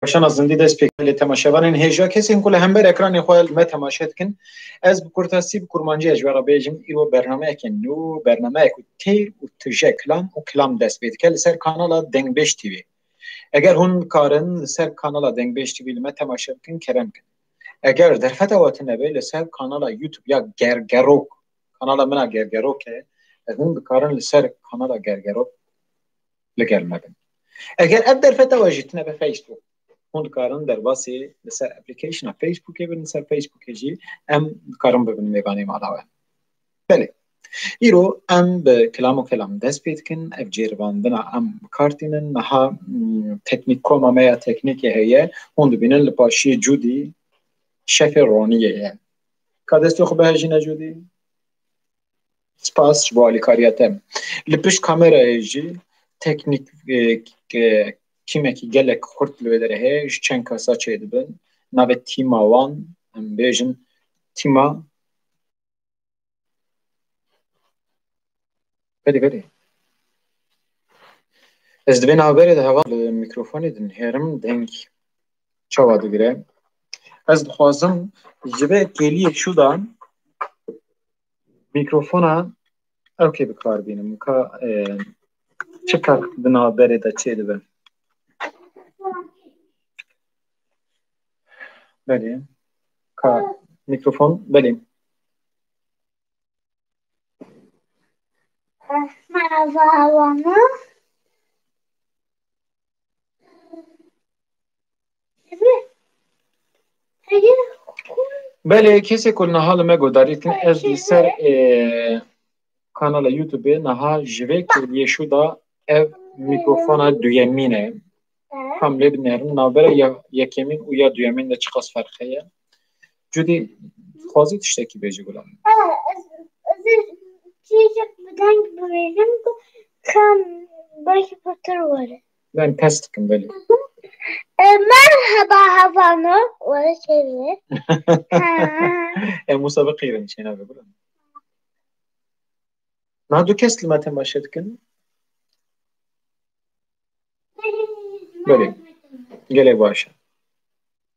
Weşana zindî dest pê kir lê temaşevanên hêja kesên ku li hember ekranê xwe li me temaşe dikin, ez bi kurtasî bi kurmancî ez ji we re bêjim îro bernameyekê nû, bernameyek ku têr û tije kilam û kilam dest pê dike li ser kanala Dengbêj TV. Eger hûn nikarin li ser kanala Dengbêj TV li me temaşe bikin kerem bikin. Eger derfeta we tune be li ser kanala YouTube ya Gergerok, kanala min a Gergerok e, hûn dikarin li ser kanala Gergerok li gel me bin. Eger ev derfeta we jî tine bi Facebook hûn dikarin derbasî li ser application'a Facebookê bin li ser Facebookê jî em dikarin bibin mêvanê mala we. Belê. Îro em bi kilam û kelam dest pê dikin ev cêrivandina em bikartînin niha hmm, teknîk koma me ya teknîkê heye hûn dibînin li paşî cûdî şefê roniyê ye. Ka destê xwe bihejîne cûdî. Spas ji bo alîkariya te. Li pişt kamerayê jî teknîk kîmekî gelek xurt li wê derê heye. Ji çend kesa çêdibin. Navê tîma wan em bêjin tîma berê berê ez di vê navberê de hevalên mîkrofonê dinihêrim deng. çawa digire ez dixwazim ji vê kêliyê şûdan mîkrofona ew kê bi kar bînim ka çi kar di navberê de çê dibe belê ka mîkrofon belê Merhaba Havana. Belê kesê ku niha li me guhdarî dikin ez li ser kanala YouTubeê niha ji vê kêliyê şû da ev mîkrofona duyemîn e. Kam lê binêrin navbera yekemîn û ya duyemîn de çiqas ferq heye. Cudî dixwazî tiştekî bêjî gulam. Çîçek bi deng bibêjim ku kam belkî pirtir were. Ben pes dikim belê. Merhaba hevano were çêvê. Em wisa biqîrin çêna ve gulam. Na du kes li me temaşe dikin. Belê. Gelê baş e.